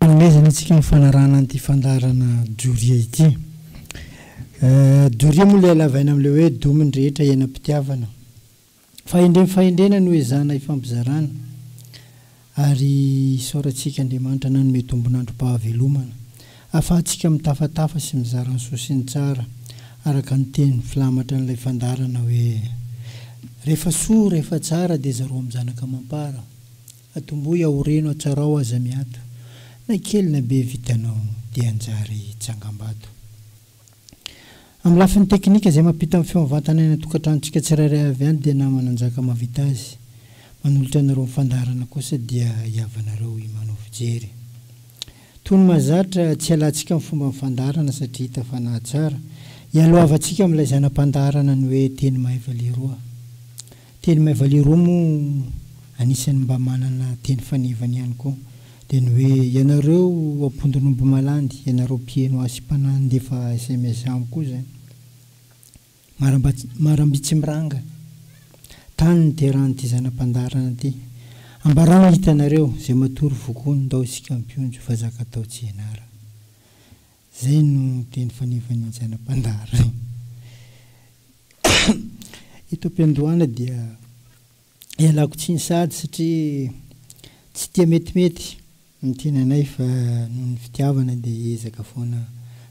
Hanomezana antsika ny fanarahana an'ity fandaharana doria ity. Doria moa ilay halavaina amin'ilay hoe domin'ny rehetra iainam-pitiavana. Fahendrena fahendrena no ezahana hifampizarana ary isaorantsika Andriamanitra nanome tombon'androm-pahavelomana ahafahantsika mitafatafa sy mizara ny soa sy ny tsara araka ny teny filamatra an'ilay fandaharana hoe, Rehefa soa, rehefa tsara dia zaro amin'ny zanaka amam-para. Atomboy aho reno atsarao aza miato na kely na be vitanao de hanjary tsangambato Amin'ny lafiny teknika izay mampita ny feo mivantana any an-tokantranontsika tsirairay avy any dia namana njaka mavita azy Manolotra anareo ny fandaharana kosa dia hiavanareo i Manao fijery Tony mahazatra Tsy hialantsika ny fomba ny fandaharana satria hita fa nahatsara Hialohavantsika amin'ilay zana-pandaharana ny hoe teny mahay valiroa Teny Maivaliroa moa anisan'ny mba manana teny fanevany ihany koa. Dia ny hoe, ianareo ao Ampondon'Omby Malandy, ianareo mpiheno azy sy mpanahy nandefa sms amiko io izany. Marambatsimiranga, tany niterahan'ity zana-pandaharana ity. Ambarao hitanareo, izay matory vokoa ny ndao isika mpionjo fa zaka atao tsy ianarana. Izay no teny fanevan'ny Anjana Mpandary. Eto am-piandohana dia ialako tsiny sahady satria tsy tia metimety ny tenanay fa noho ny fitiavana dia hiezaka foana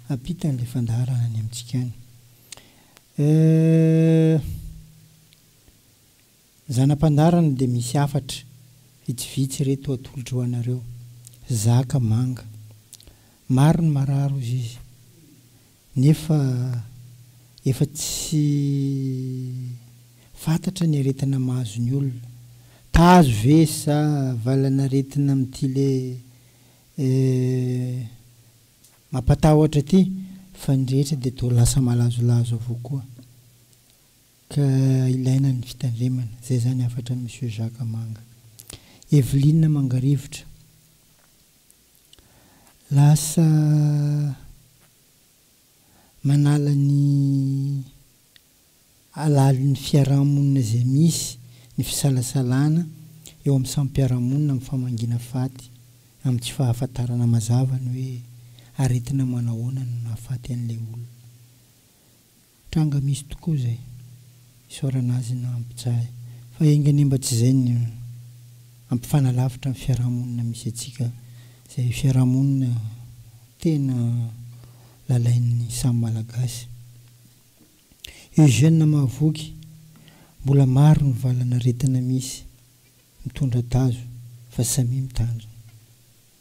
hampita an'ilay fandaharana any amintsika any. Euh. Ny zana-pandarana dia misy hafatra vitsivitsy ireto atolotro ho anareo, zaka manga. Maro ny marary hozy izy, nefa efa tsy fantatra ny aretina mahazo ny olona. Tazo ve sa valan'aretina amin'ity le mampatahotra ity, fa ny rehetra dia toa lasa malazolazo avokoa. Ka ilaina ny fitandremana. Zay zany hafatra an'i Monsieur Jacques Manga. Evelyne Mangarivotra, lasa manala ny halalon'ny fiarahamonina izay misy ny fisalasalana eo amin'ny samy mpiara-monina amin'ny famangiana faty amin'ny tsy fahafantarana mazava ny hoe aretina manahoana no nahafaty an'ilay olona. Tranga misy tokoa zay. Isaorana azy na ampijaly fa enga anie mba tsy zay no ampifanalavitra ny fiarahamonina misy antsika zay fiarahamonina tena lalain'ny samy malagasy. Eugène Mahavoky, Mbola maro ny valan'aretina misy mitondra tazo fa samia mitandrina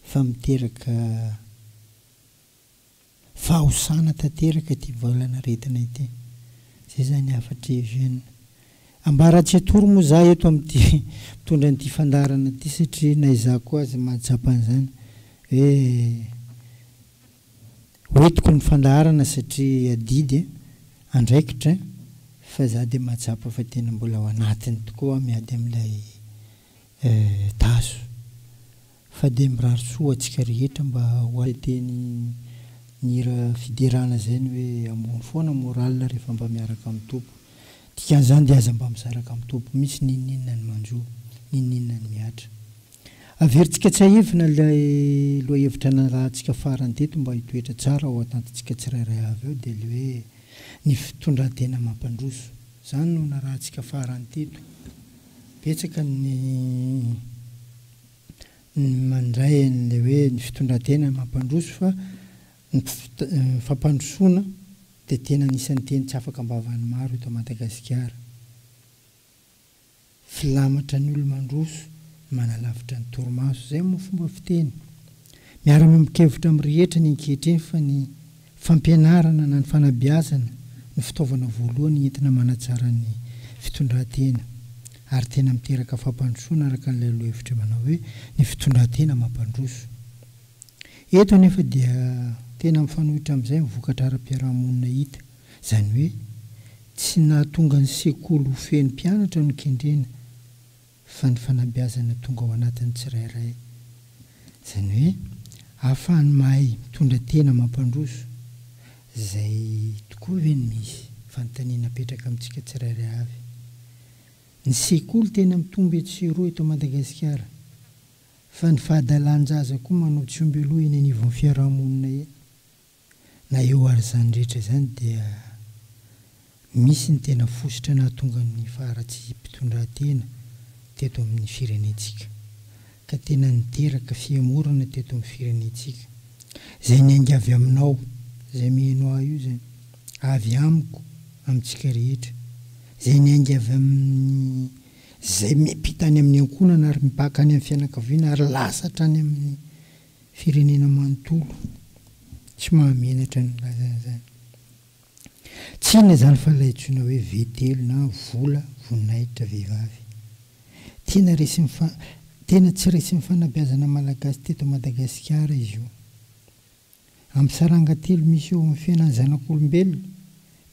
fa miteraka. Fahosana tanteraka ity valan'aretina ity. Izay izany hafatr'i Eugène. Ambaratsy hatory moa izaho eto amin'ity mpitondra an'ity fandaharana ity satria na izaho koa aza mahatsapa an'izany hoe ho entiko ny fandaharana satria adidy e, andraikitra e, fa izaho dia mahatsapa fa tena mbola ao anatiny tokoa aho miady amin'ilay tazo. Fa dia mirary soa ho antsika rehetra mba ho any. Dia ny ny hira fiderana zay ny hoe ambony foana morale rehefa mba miaraka amin'ny Tompo. Dikan'izany dia aza mba mizaraka amin'ny Tompo mihitsy n'inon'inona ny manjo, n'inon'inona ny mihatra. Averintsika tsiahivina ilay lohahevitra narahantsika farany teto mba hitoetra tsara ao an-tantintsika tsirairay avy ao dia ilay hoe ny fitondran-tena mampandroso. Izany no narahantsika farany teto. Betsaka ny. ny mandray an'ilay hoe ny fitondran-tena mampandroso fa ny fampandrosoana dia tena anisan'ny teny tsy afaka am-bavan'ny maro eto Madagasikara. Filamatra ny olo-mandroso no manalavitra ny torimaso, izay moa fomba fiteny. Miara-miombon-kevitra amin'ny rehetra ny ankehitriny fa ny. Fampianarana na ny fanabeazana no fitaovana voalohany entina manatsara ny fitondran-tena ary tena miteraka fampandrosoana araka an'ilay lohahevitra manao hoe ny fitondran-tena mampandroso. Eto anefa dia tena mifanohitra amin'izay ny vokatra ara-piarahamonina hita, izany hoe tsy nahatonga ny sekoly ho feno mpianatra no kendrena, fa ny fanabeazana tonga ao anatin'ny tsirairay. Izany hoe ahafahany mahay mitondra tena mampandroso. Izay tokoa ve no misy? Fanontaniana apetraka amintsika tsirairay avy. Ny sekoly tena mitombo etsy sy eroa eto Madagasikara, fa ny fahadalan-jaza koa manao tsy omby aloha eny anivon'ny fiarahamonina eny. Na eo ary izany rehetra izany dia misy ny tena fositra nahatonga ny faharatsiam-pitondrantena teto amin'ny firenentsika ka tena niteraka fihemorana teto amin'ny firenentsika. Izay niainga avy aminao, izay miheno ahy io izany, avy amiko, amintsika rehetra. Izay niainga avy amin'izay miampita any amin'ny ankohonana ary mibaka any amin'ny fianakaviana ary lasa hatrany amin'ny firenena manontolo tsy mahamenatra ny nilazany izany. Tsy inona izany fa ilay antsoina hoe vetelo na vola voninahitra vehivavy. Tena resin'ny fa tena tsy resin'ny fanabeazana malagasy teto Madagasikara izy io. Amin'ny saranga telo misy eo amin'ny fiainan'ny zanak'olombelona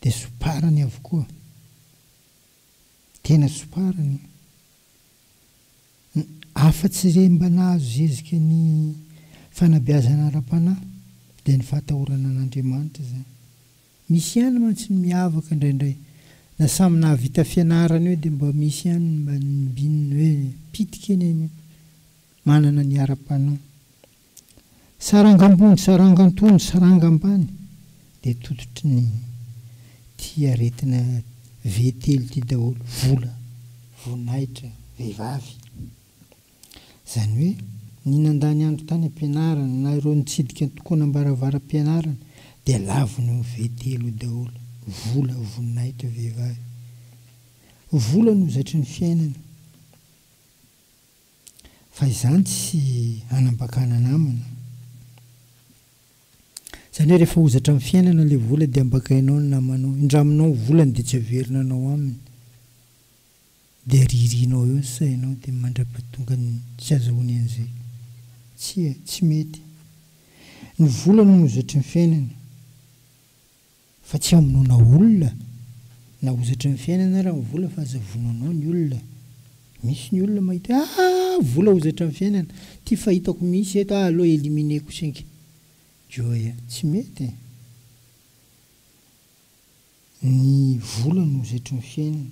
dia somparany avokoa. Tena tsopariny an! Afa-tsy izay mba nahazo zezika ny fanabeazana ara-panahy dia ny fahatahorana an'Andriamanitra izany. Misy ihany mantsy ny miavaka indraindray, na samy nahavita fianarana eo dia mba misy ihany ny mba nibin ny hoe pitika eny anio, manana ny ara-panahy. Saranga ambony, saranga antonony, saranga ambany dia tototry ny ity aretina V telo ity daholo, vola, voninahitra, vehivavy. Izany hoe ny nandany andro tany am-pianarana na ireo nitsidika antokonam-baravaram-pianarana dia lavon'ny io V telo io daholo, vola, voninahitra, vehivavy. Vola no zaitry ny fiainana. Fa izany tsy hanambakana namana. Izany hoe rehefa hozatra amin'ny fiainana ilay vola dia ambakainao ny namanao. Indraminao ny volany dia tsy haverina anao aminy. Dia ririanao eo ny sainao dia mandra-pahatonga ny tsy azahoany an'izay. Tsia, tsy mety. Ny vola no hozatry ny fiainana. Fa tsy hamonoana olona na hozatry ny fiainana ara ny vola fa aza vonoinao ny olona. Misy ny olona mahita hoe aa vola hozatra ny fiainana. Ty fahitako mihitsy eto ah aleo eliminer ko singa. Joy a! Tsy mety e! Ny vola no hozatry ny fiainana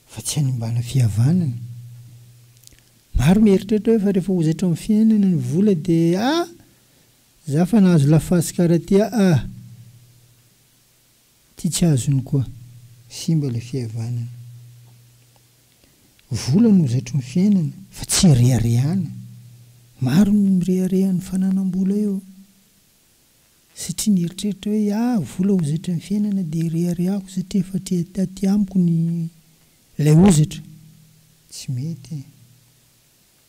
fa tsy hanimbana fihavanana. Maro mieritreritra hoe fa rehefa hozatry ny fiainana ny vola dia ah! Za fa nahazo laface kara ty aa ty tsy azony koa. Simba ilay fihavanana. Vola no zaitry ny fiainana fa tsy reharehana. Maro ny mirehareha ny fananam-bola eo. Satria nieritreritra hoe ah vola hozatry ny fiainana dia reharehako satria efa aty amiko ny ilay hozatra. Tsy mety e.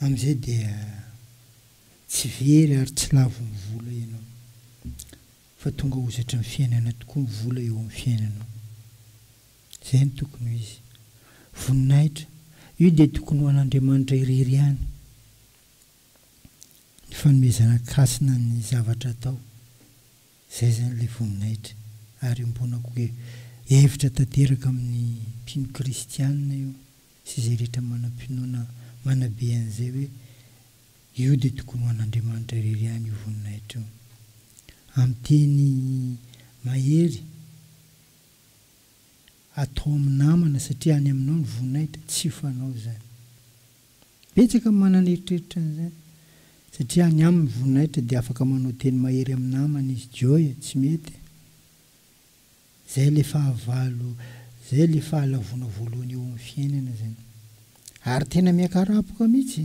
Amin'izay dia tsy very ary tsy lavo ny vola ianao, fa tonga hozatry ny fiainana tokoa ny vola eo amin'ny fiainanao. Izay no tokony ho izy. Voninahitra, io dia tokony ho an'Andriamanitra irery ihany. Ny fanomezana an-kasina ny zavatra atao. Izay izany ilay voninahitra. Ary iombonako hoe hevitra tanteraka amin'ny mpino kristianina io sy izay rehetra manam-pinoana manabe an'izay hoe io dia tokony ho an'Andriamanitra irery ihany io voninahitra io. Amin'ny teny mahery atao amin'ny namana satria any aminao ny voninahitra, tsy fanao izany. Betsaka ny manana eritreritra an'izany satria any aminy voninahitra dia afaka manao teny mahery amin'ny namany izy Joy a! tsy mety e! Zay ilay fahavalo zay ilay fahalavoana voalohany eo amin'ny fiainana zany ary tena miakarapoka mihitsy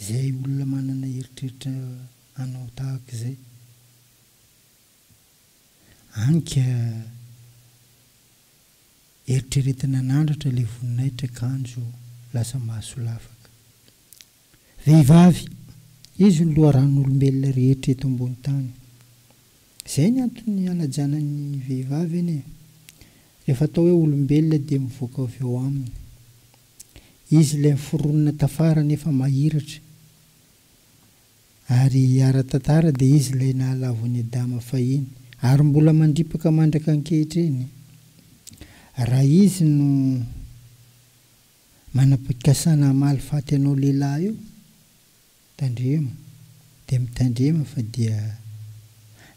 zay olona manana eritreritra hanao tahaka izay any ka! Eritreretina nandratra ilay voninahitra kanjo lasa maso lavaka. Vehivavy, izy no loharan'olombelona rehetra eto ambony tany. Izay ny antony ihalajana ny vehivavy anie. Rehefa atao hoe olombelona dia mivoaka avy ao aminy. Izy ilay miforonina tafara nefa mahiratra. Ary ara-tantara dia izy ilay nahalavo an'i Adama fahiny, ary mbola mandripaka mandraka ankehitriny. Raha izy no manam-pikasana hamaly faty anao lehilahy io, tandremo, dia mitandrema fa dia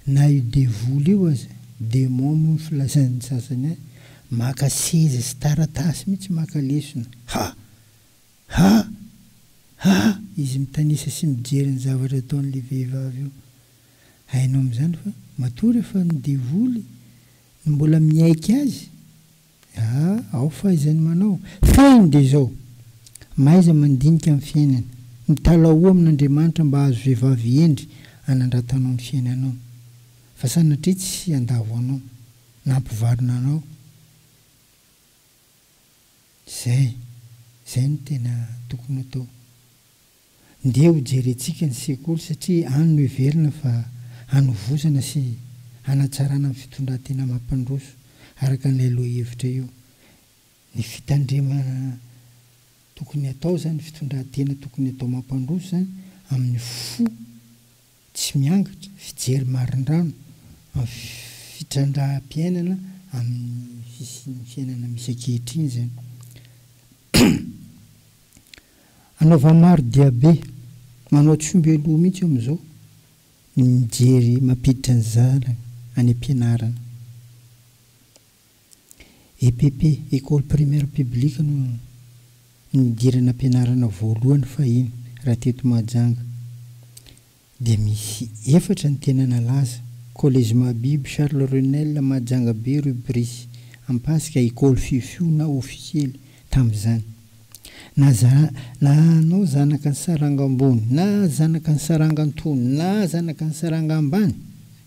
na io devoly io aza, démon moa ny filazan'ny sasany azy, maka seza sy taratasy mihitsy maka lesona. Ha! Ha! Ha! Izy mitanisa sy mijery ny zavatra ataon'ilay vehivavy io. Hainao amin'izany fa matoa rehefa ny devoly no mbola miaiky azy, ah, ao fahaizany manao. Fehiny dia izao, mahaiza mandinika ny fiainana, mitalahoa amin'Andriamanitra mba hahazo vehivavy hendry hanandratanao ny fiainanao, fa sanatria tsy handavo anao, na hampivarina anao. Izay, izay no tena tokony ho atao. Ndeha ho jerentsika ny sekoly satria any no heverina fa hanovozana sy hanatsarana ny fitondran-tena mampandroso araka an'ilay lohahevitra io. Ny fitandremana tokony hatao izany, ny fitondran-tena tokony hatao mampandroso izany amin'ny fo. Tsy miangatra fijery marindrano amin'ny fitrandraham-piainana amin'ny fisian'ny fiainana misy ankehitriny izany. Anaovan'ny maro diabe, manao tsiombelou mihitsy amin'izao ny mijery mampiditra ny zanany any am-pianarana. EPP, Ecole Primaire Publique no nidiran'ampianarana voalohany fahiny raha teto Mahajanga dia misy efatra ny tena nalaza, Collège Mahabibo, Charles Renel, Mahajanga be, Rue Brice, Ampasika, Ecole Fiofio na Ofisiely tamin'izany. Na na anao zanaka ny saranga ambony na zanaka ny saranga antonony na zanaka ny saranga ambany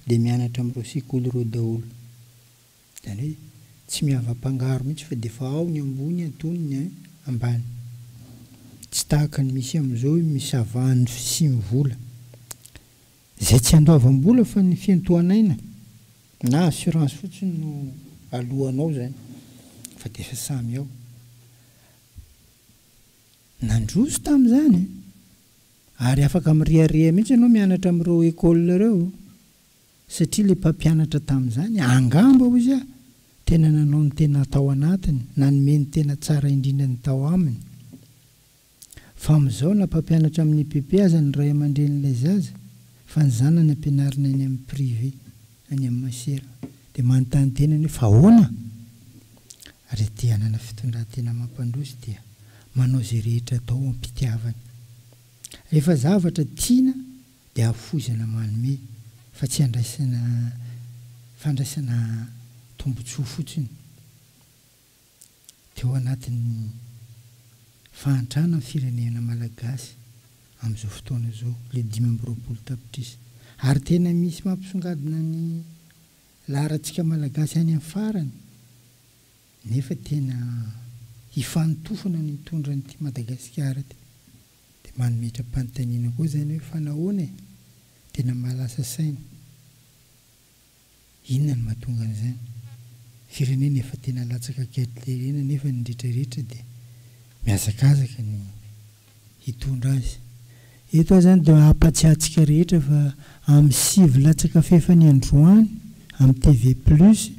dia mianatra amin'ireo sekoly ireo daholo. Izany hoe tsy miavapangaro mihitsy fa dia efa ao ny ambony antony ny ambany. Tsy tahaka ny misy amin'izao hoe misavahan'ny fisian'ny vola. Izay tsy andoavam-bola fa ny fiantohan'aina na assurance fotsiny no alohanao izany fa dia efa samy ao. Nandroso tamin'izany ary afaka mirehareha mihitsy ianao mianatra amin'ireo écoles ireo. Satria ilay mpampianatra tamin'izany, angamba, hoy izy, tena nanao ny tena tao anatiny, nanome ny tena tsara indrindra ny tao aminy. Fa amin'izao, na mpampianatra amin'ny EPP aza ny ray aman-drenin'ilay zaza, fa ny zanany ampianarina any amin'ny privé, any amin'ny masera, dia manontany tena ny hoe, fa ahoana? Ary ity hanana fitondran-tena mampandroso dia manao izay rehetra atao am-pitiavany. Rehefa zavatra tiana dia hafoizana manome fa tsy handraisana fandraisana tombotsoa fotsiny teo anatin'ny fahantrana ny firenena malagasy amin'izao fotoana izao ilay dimy amby roapolo tapitrisa ary tena misy mampisongadina ny laharantsika malagasy any amin'ny farany nefa tena hifanotofana ny hitondra an'ity Madagasikara ity. Dia manometram-panontaniana koa izany hoe fa nahoana e? Tena mahalasa saina. Inona no mahatonga an'izany? Firenena efa tena latsaka ankehitrl ireny anefa ny rehetra rehetra dia mihazakazaka ny hitondra azy. Eto aho izany dia hampatsiahy antsika rehetra fa amin'ny sivy latsaka fahefany androany amin'ny TV plus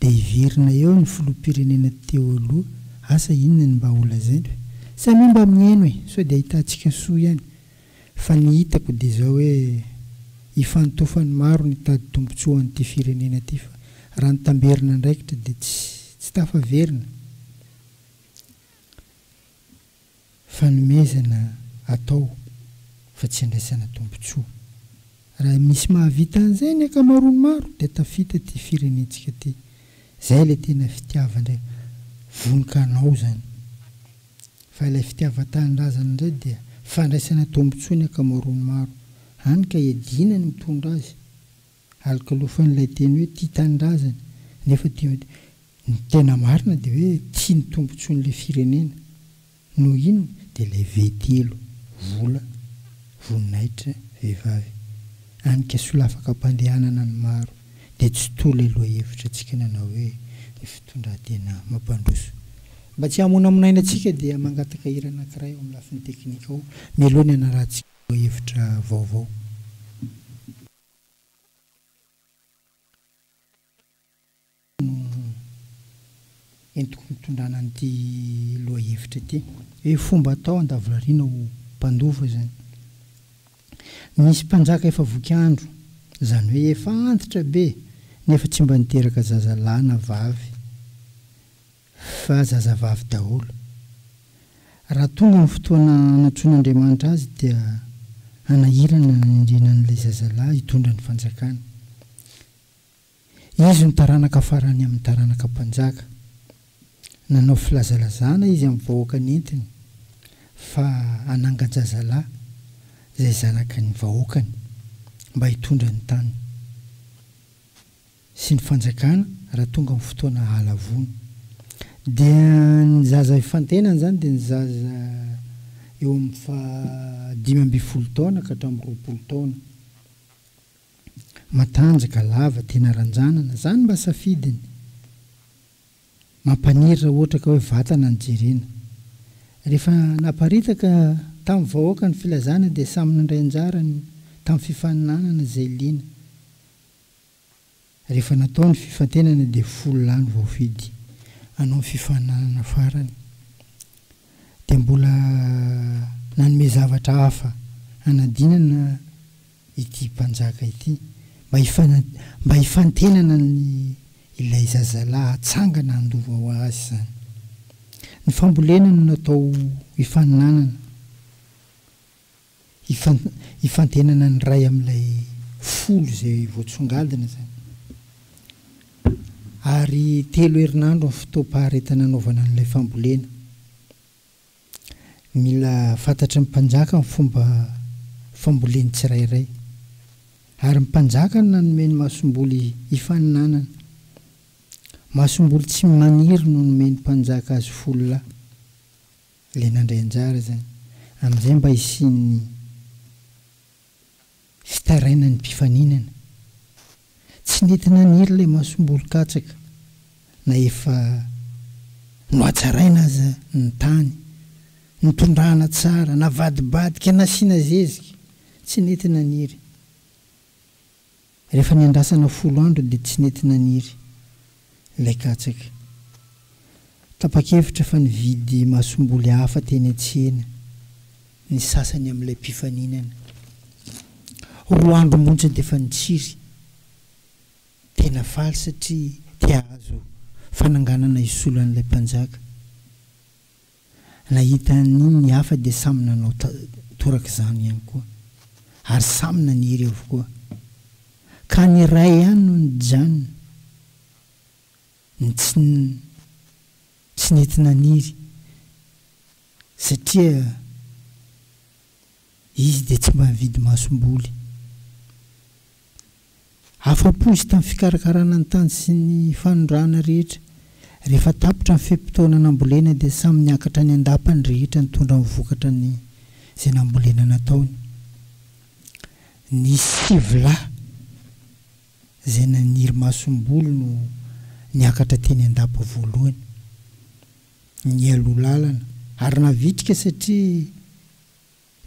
Dia hiverina eo ny filoham-pirenena teo aloha, asa inona ny mba holazainy hoe samia mba mihaino e, sao dia ahitantsika soa ihany, fa ny hitako dia izao hoe hifantofan'ny maro ny hitady tombotsoa ho an'ity firenena ity fa raha ny tamberina andraikitra dia tsy tafaverina. Fanomezana atao fa tsy andraisana tombontsoa. Raha misy mahavita an'izay ny ankamaroan'ny maro dia tafita ity firenentsika ity. Izay ilay tena fitiavandra vononkanao izany. Fa ilay fitiavan-tanindrazana indray dia fandraisana tombontsoa ny ankamaroan'ny maro. Hany ka iadiana ny mitondra azy. Alokalofan'ilay teny hoe tia tanindrazany nefa dia ny tena marina dia hoe tia ny tombontsoan'ilay firenena. Noho inona? Dia ilay V telo, vola, voninahitra, vehivavy. Anika solafaka am-pandehanana ny maro. Dia tsy toa ilay lohahevitrantsika nanao hoe ny fitondran-tena mampandroso. Mba tsy hamonamonaina antsika dia mangataka hira anankiray ao amin'ny lafiny teknika ao mialoha ny hanarahantsika lohahevitra vaovao. entiko ny fitondrana an'ity lohahevitra ity hoe fomba atao handavorariana ho mpandova izany. Nisy mpanjaka efa voky andro, izany hoe efa antitra be nefa tsy mba niteraka zaza lahy na vavy. Fa zazavavy daholo. Raha tonga ny fotoana hanatsoin'Andriamanitra azy dia hanahirana ny hanendrena an'ilay zazalahy hitondra ny fanjakana. Izy no taranaka farany amin'ny taranaka mpanjaka. Nanao filazalazana izy amin'ny vahoaka nentiny fa hanangan-jazalahy izay zanaky ny vahoakany mba hitondra ny tany. sy ny fanjakana raha tonga ny fotoana halavoana dia ny zaza ifantenany izany dia ny zaza eo amin'ny faha dimy ambin'ny folo taona ka hatramin'ny roapolo taona matanjaka lava tena ranjanana izany mba safidiny mampaniry raha ohatra ka hoe vatana no jerena rehefa naparitaka tamin'ny vahoaka ny filazana dia samy nandray anjara ny tamin'ny fifaninanana izay liana Rehefa natao ny fifantenana dia folo lahy no voafidy hanao ny fifaninanana farany. Dia mbola nanome zavatra hafa hanadinana ity mpanjaka ity mba mba hifantenana ny ilay zazalahy hatsangana handova ho azy izany. Ny fambolena no natao hifaninanana. Hifantenana ny ray amin'ilay folo izay voatsongadina izany. Ary telo herinandro ny fotoam-paharetana anaovana an'ilay fambolena. Mila fantatry ny mpanjaka ny fomba fambolen'ny tsirairay. Ary ny mpanjaka no nanome ny masomboly hifaninanana. Masomboly tsy maniry no nomen'ny mpanjaka azy folo lahy. Ilay nandray anjara izany. Amin'izay mba hisian'ny fitarainan'ny mpifaninana. Tsy nety naniry ilay masomboron-katsaka na efa nohatsaraina aza ny tany, notondrahana tsara, navadibadika, nasiana zezika. Tsy nety naniry. Rehefa niandrasana folo andro dia tsy nety naniry ilay katsaka. Tapa-kevitra fa nividy masomboly hafa teny an-tsena ny sasany amin'ilay mpifaninana. Roa andro monja dia efa nitsiry. Tena faly satria te hahazo fananganana hisolo an'ilay mpanjaka. Nahita an'iny ny hafa dia samy nanao torak'izany ihany koa, ary samy naniry avokoa. Ka ny iray ihany no nijanona, ny tsy tsy nety naniry, satria. Izy dia tsy mba nividy masomboly. Afa-po izy tamin'ny fikarakarana ny tany sy ny fanondrahana rehetra. Rehefa tapitra ny fe-potoana nambolena dia samy niakatra any an-dapa ny rehetra nitondra ny vokatra ny izay nambolena nataony. Nisy sivy lahy izay naniry masomboly no niakatra teny an-dapa voalohany. Nialoha lalana ary navitrika satria.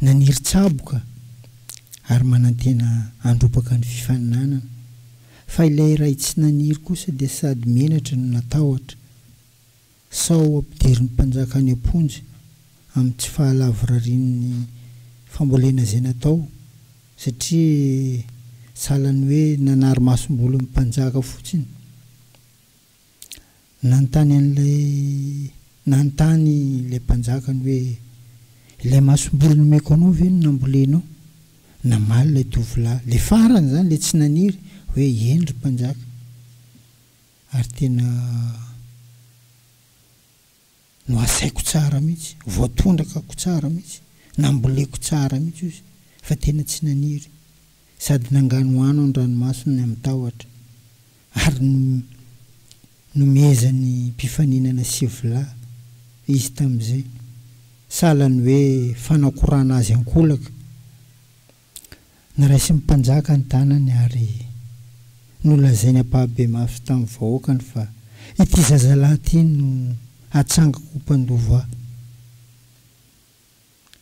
Naniry tsaboka ary manantena handrompaka ny fifaninanana, fa ilay iray tsy naniry kosa dia sady menatra no natahotra, sao hampiderin'ny mpanjaka any am-ponja amin'ny tsy fahalavorarian'ny fambolena izay natao, satria sahalan'ny hoe nanary masomboly ny mpanjaka fotsiny. Nanontany an'ilay nanontany ilay mpanjaka ny hoe, Ilay masomboly nomeko anao ve no nambolenao? Namaly ilay tovolahy, ilay farany izany, ilay tsy naniry, hoe, Eny, ry mpanjaka, ary tena. no asaiko tsara mihitsy, voatondrakako tsara mihitsy, namboleko tsara mihitsy hoy izy fa tena tsy naniry, sady nanganohano ny ranomasony amin'ny tahotra, ary nomezany mpifaninana sivolahy izy tamin'izay, sahalan'ny hoe fanakorana azy an-kolaka. Noraisin'ny mpanjaka ny tanany ary nolazainy ampahabe mafy tamin'ny vahoakany fa ity zazalahy ity no hatsangako ho mpandova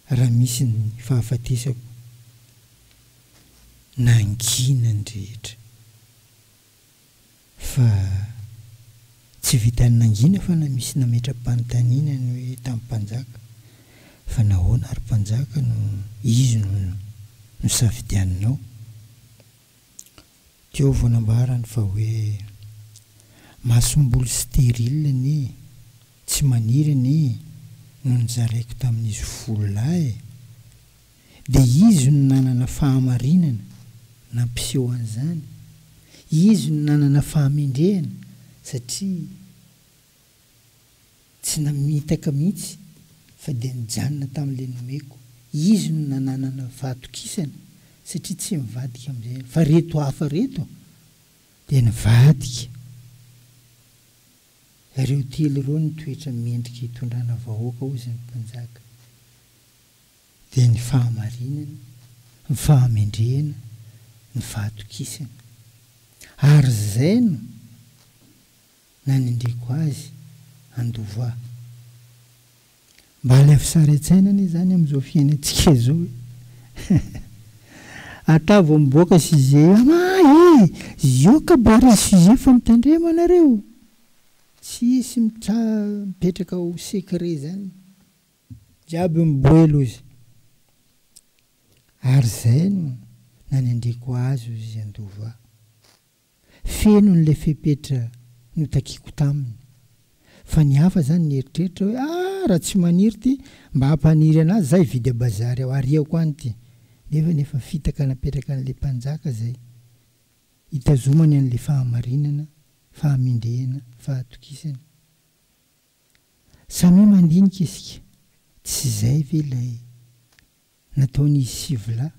ahy raha misy ny fahafatesako. Nangina ny rehetra. Fa tsy vitan'ny nangina fa na misy nametra-panontaniana ny hoe tamin'ny mpanjaka fa nahoana ry mpanjaka no izy no nosafidianinao? Teo vao nambarany fa hoe masomboly stérile anie tsy maniry anie no nozaraiko tamin'izy folo lahy e! Dia izy no nanana fahamarinana nampiseho an'izany, izy no nanana fahamendrehana satria tsy namitaka mihitsy fa dia nijanona tamin'ilay nomeko, izy no nananana fahatokisana satria tsy nivadika amin'izay, fa ireto hafa ireto dia nivadika, ireo telo ireo no toetra mendrika hitondrana vahoaka hoy izany mpanjaka. dia ny fahamarinana, ny fahamendrehana, ny fahatokisana. Ary izay no nanendreko azy handova. Mba alefa sary an-tsaina anie izany amin'izao fiainantsika izao e! Ata vao miboaka sujet io, ama e! Zioka barrez sujet fa mitandrema nareo! Tsisy mipetraka ho secret izany. Jiaby miboelo ozy ary zay no nanendreko azy ozy handova. Feno ny le fepetra notakiko taminy fa ny hafa zany nieritreritra hoe ah raha tsy maniry ty mba hampaniry anazy za hividy a bazary ao ariako any ty nefa ny efa fitaka napetraka anle mpanjaka zay hitazomany anle fahamarinana fahamendrehana fahatokisana. Samia mandinika isika, tsy izay ve ilay nataon'izy sivy lahy?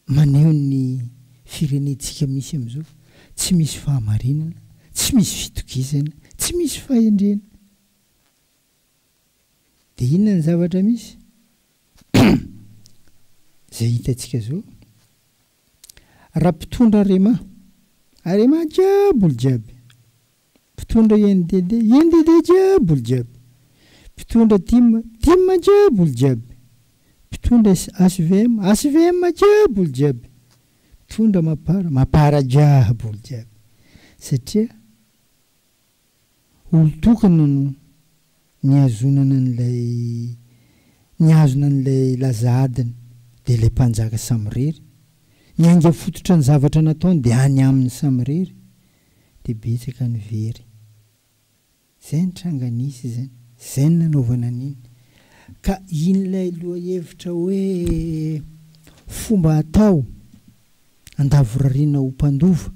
Maneho ny firenentsika misy amin'izao, tsy misy fahamarinana, tsy misy fitokisana, tsy misy fahendrena. Dia inona ny zavatra misy? Izay hitantsika izao. Raha mpitondra Arema, Arema jiaby olo jiaby, mpitondra INDD, INDD jiaby olo jiaby, mpitondra tim, tim jiaby olo jiaby, mpitondra HVM, HVM jiaby olo jiaby, mpitondra Mapar, Mapar jiaby olo jiaby satria. olon-tokana no nihazonana an'ilay nihazona an'ilay laza adiny, dia ilay mpanjaka samirery. Ny ainga fototra ny zavatra nataony dia any aminy samirery dia betsaka ny very. Izay ny tranga nisy izany, izay ny nanaovana an'iny. Ka in'ilay lohahevitra hoe fomba atao handavorariana ho mpandova,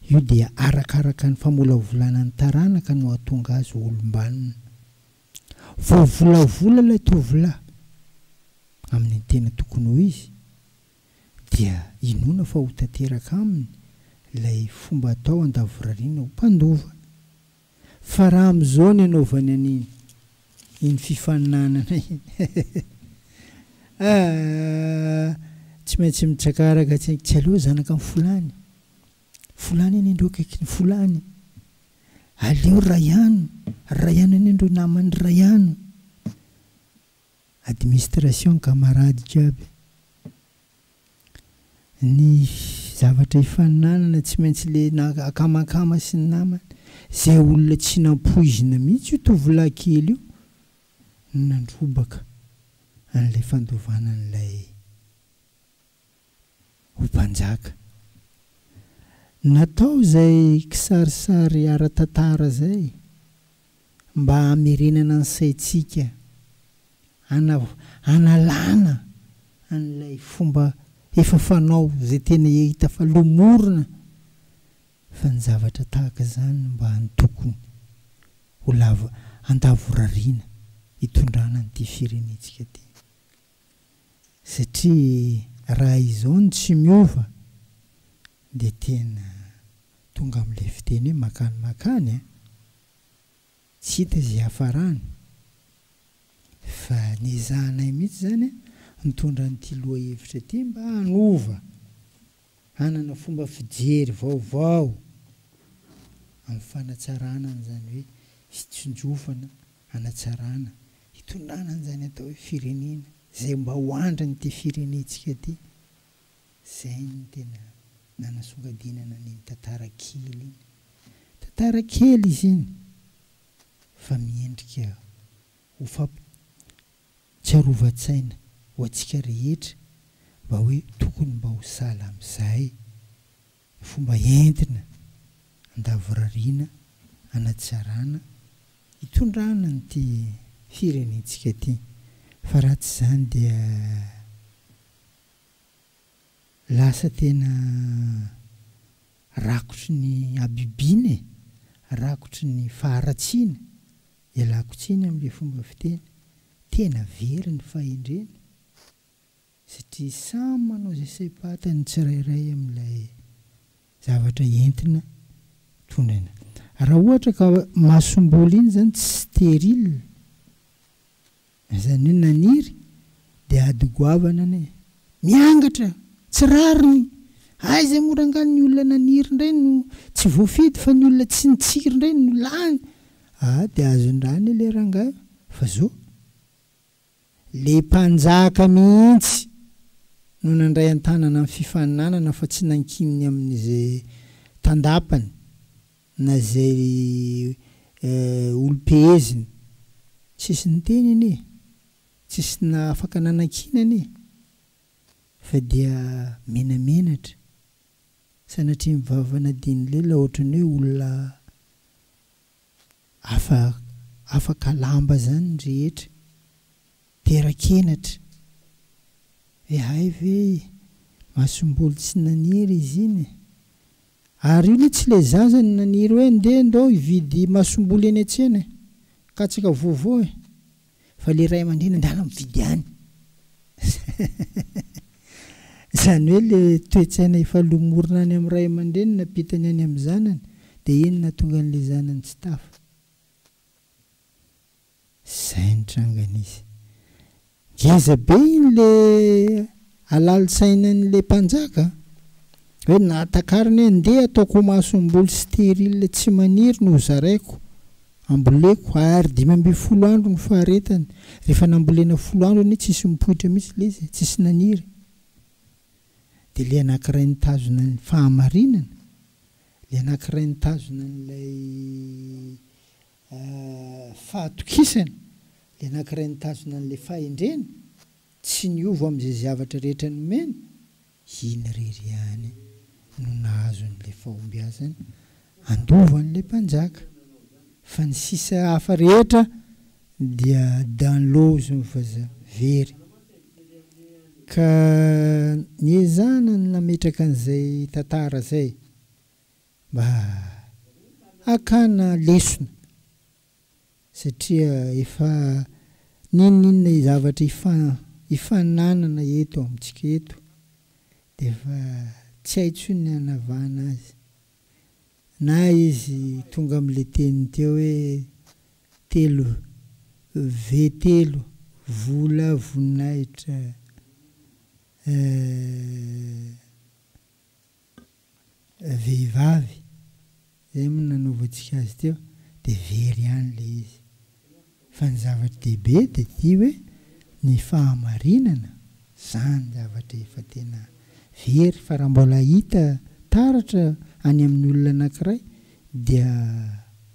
Io dia arakaraka ny famolavolana ny taranaka no hahatonga azy ho olom-banona. Voavolavola ilay tovolahy amin' ny tena tokony ho izy dia inoana fa ho tanteraka aminy ilay fomba atao an-davorariana ho mpandova. Fa raha amin'izao ny anaovany an'iny, iny fifaninanana iny aah, tsy maintsy mitsakaraka tsiny, tsy aleo zanaka an'i Folany, Folany anie ndreo akaikin'i Folany, aleo Rayano, Rayano anie ndreo naman'i Rayano. Administration camarades jiaby. Ny zavatra ifaninanana tsy maintsy le na akamakama sy ny namany. Zay olona tsy nampoizina mihitsy io tovolahy kely io no nandrobaka an'ilay fandovana an'ilay. ho mpanjaka. Natao izay kisarisary ara-tantara izay mba hamerenana ny saintsika hanalana an'ilay fomba efa fanao izay tena hita fa lomorina fa ny zavatra tahaka izany mba antokony ho lava andavorariana hitondrana an'ity firenentsika ity. satria raha izao no tsy miova dia tena tonga amin'ilay fiteny hoe makany makany an! tsy hita izay hiafarany fa niezahanay mihitsy izany an! nitondra an'ity lohahevitra ity mba hanova Hanana fomba fijery vaovao amin'ny fanatsarana an'izany hoe fitsinjofana, hanatsarana, hitondrana an'izany atao hoe firenena, izay mba ho andrin'ity firenentsika ity. Izay no tena nanasongadinana an'iny tantara kely iny. Tantara kely izy iny fa miendrika ho Tsy arovan-tsaina ho antsika rehetra mba hoe tokony mba ho sahala amin'izay ny fomba entina andavorariana hanatsarana hitondrana an'ity firenentsika ity fa raha tsy izany dia lasa tena Rakotry ny habibiana e! Rakotry ny faharatsiana! Ialako tsiny amin'ilay fomba fiteny. Tena very ny fahendrena satria samy manao izay saim-pantany ny tsirairay amin'ilay zavatra entina tondraina. Raha ohatra ka masomboly iny izany tsy stérile Izany hoe naniry dia ady goavana anie. Miangatra, tsy rariny. Aiza moa rangahy ny olona naniry indray no tsy voafidy fa ny olona tsy nitsiry indray no lany ah dia azondraha anie le rangahy fa zao le mpanjaka mihitsy no nandray antanana ny fifaninanana fa tsy nankininy amin'izay tandapany. na izay olom-peheziny, tsisy niteny anie, tsisy na afaka nanakiana anie, fa dia menamenatra, sanatria mivavana dia nilela ohatran'ny hoe olona afa afaka lamba izany ny rehetra, terak'henatra, ve hay ve masomboly tsy naniry izy iny e? Ary io le tsy le zaza naniry hoe ndeha ndao hividy masomboly eny an-tsena e! Katsaka vovo e! Fa le ray aman-dreny andala mividy any! Izany hoe le toe-tsaina efa lomorina any amin'ny ray aman-dreny nampitany any amin'ny zanany dia iny nahatonga an'le zanany tsy tafa. Izay ny trangany izy. Ngeza be iny le halal sainany le mpanjaka a! Hoe nahatakarany hoe ndeha ataoko ho masomboly stérile tsy maniry no ho zaraiko, amboleko, ary dimy ambin'ny folo andro no faharetany, rehefa nambolena folo andro anie tsisy mipoitra mihitsy le izy e, tsisy naniry. Dia le anankiray nitazona ny fahamarinana, le anankiray nitazona an'ilay fahatokisany, ilay nankiray nitazona an'ilay fahendreny, tsy niova amin'izay zavatra rehetra nomeny, iny irery ihany no nahazo an'ilay fahombiazana handova an'ilay mpanjaka, fa ny sisa hafa rehetra dia dans l'eau hozy ny vazaha, very. Ka niezahana ny nametraka an'izay tantara izay. Mba hakana lesona satria efa n'inon'inona zavatra ifananana eto amintsika eto dia efa tsy hay intsony ny hanavahana azy. Na izy tonga amin'ilay teniny teo hoe telo V telo, vola, voninahitra eh. vehivavy, izay moa nanaovantsika azy teo, dia very ihany ilay izy. Fa ny zava-dehibe dia ity hoe ny fahamarinana, izany zavatra efa tena very, fa raha mbola hita taratra any amin'ny olona anankiray dia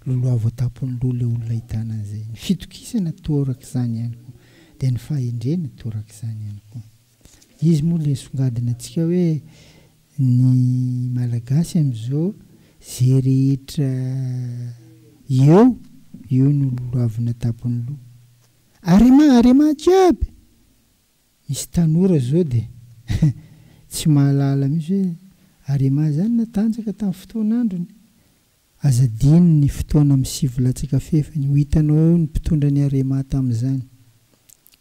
loloha voatapon'ny loha ilay olona ahitana an'izay. Ny fitokisana torak'izany ihany koa, dia ny fahendrena torak'izany ihany koa. Izy moa le songadina antsika hoe ny malagasy amizao ze rehetra eo eo no loloavina tapony loha. Arema arema jiaby! Misy tanora zao de tsy mahalala mihitsy hoe arema zany natanjaka tam fotoanandrony. Aza adino ny fotoana misivo latsaka fefany, ho hitanao eo ny mpitondra ny Arema tamin'izany.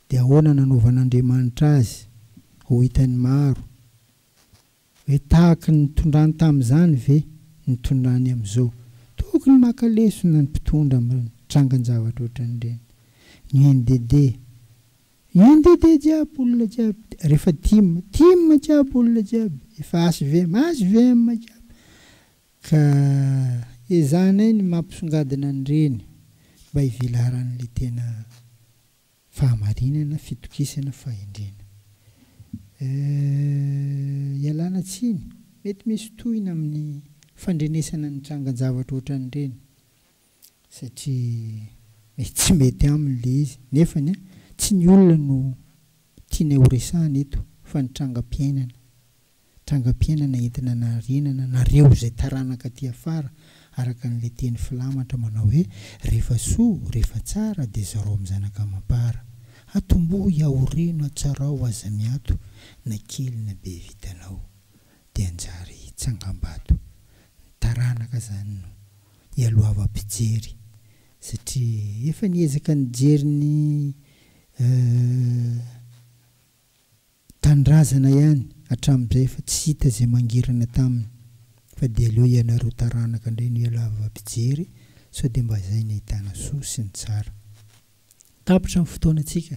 Dia ahoana nanaovan'Andriamanitra azy? Ho hitan'ny maro. Hoe tahaky ny nitondrany tamin'izany ve ny nitondrany amin'izao? Tokony maka lesona ny mpitondra amin'ny trangan-javatra ohatran'ireny. Ny UNDD, UNDD jiaby olona jiaby, rehefa tim, tim jiaby olona jiaby, efa HVM, HVM jiaby. Ka ezahanay ny mampisongadina an'ireny mba hivelaran'ilay tena fahamarinana, fitokisana, fahendrena. Euh, ialana tsiny, mety misy tohina amin'ny fandrenesana ny trangan-javatra ohatran'ireny. satria mety tsy mety aminy ilay izy nefany a, tsy ny olona no tianay ho resahana eto fa ny trangam-piainana, trangam-piainana entina anarenana anareo izay taranaka aty afara araka an'ilay teny filamatra manao hoe, rehefa soa, rehefa tsara dia zarao amin'ny zanaka amam-para, atombohy, aoreno, atsarao, aza miato na kely na be vitanao. de hanjary tsangambato ny taranaka zany no ialohavam pijery satria efa niezaka nijery ny tanindrazana ihany hatramizay fa tsy hita zay mangirana taminy fa de aleo ianareo taranaka ndray no ialahavam pijery sao de mba zay ny ahitana soa sy ny tsara tapitra ny fotoana tsika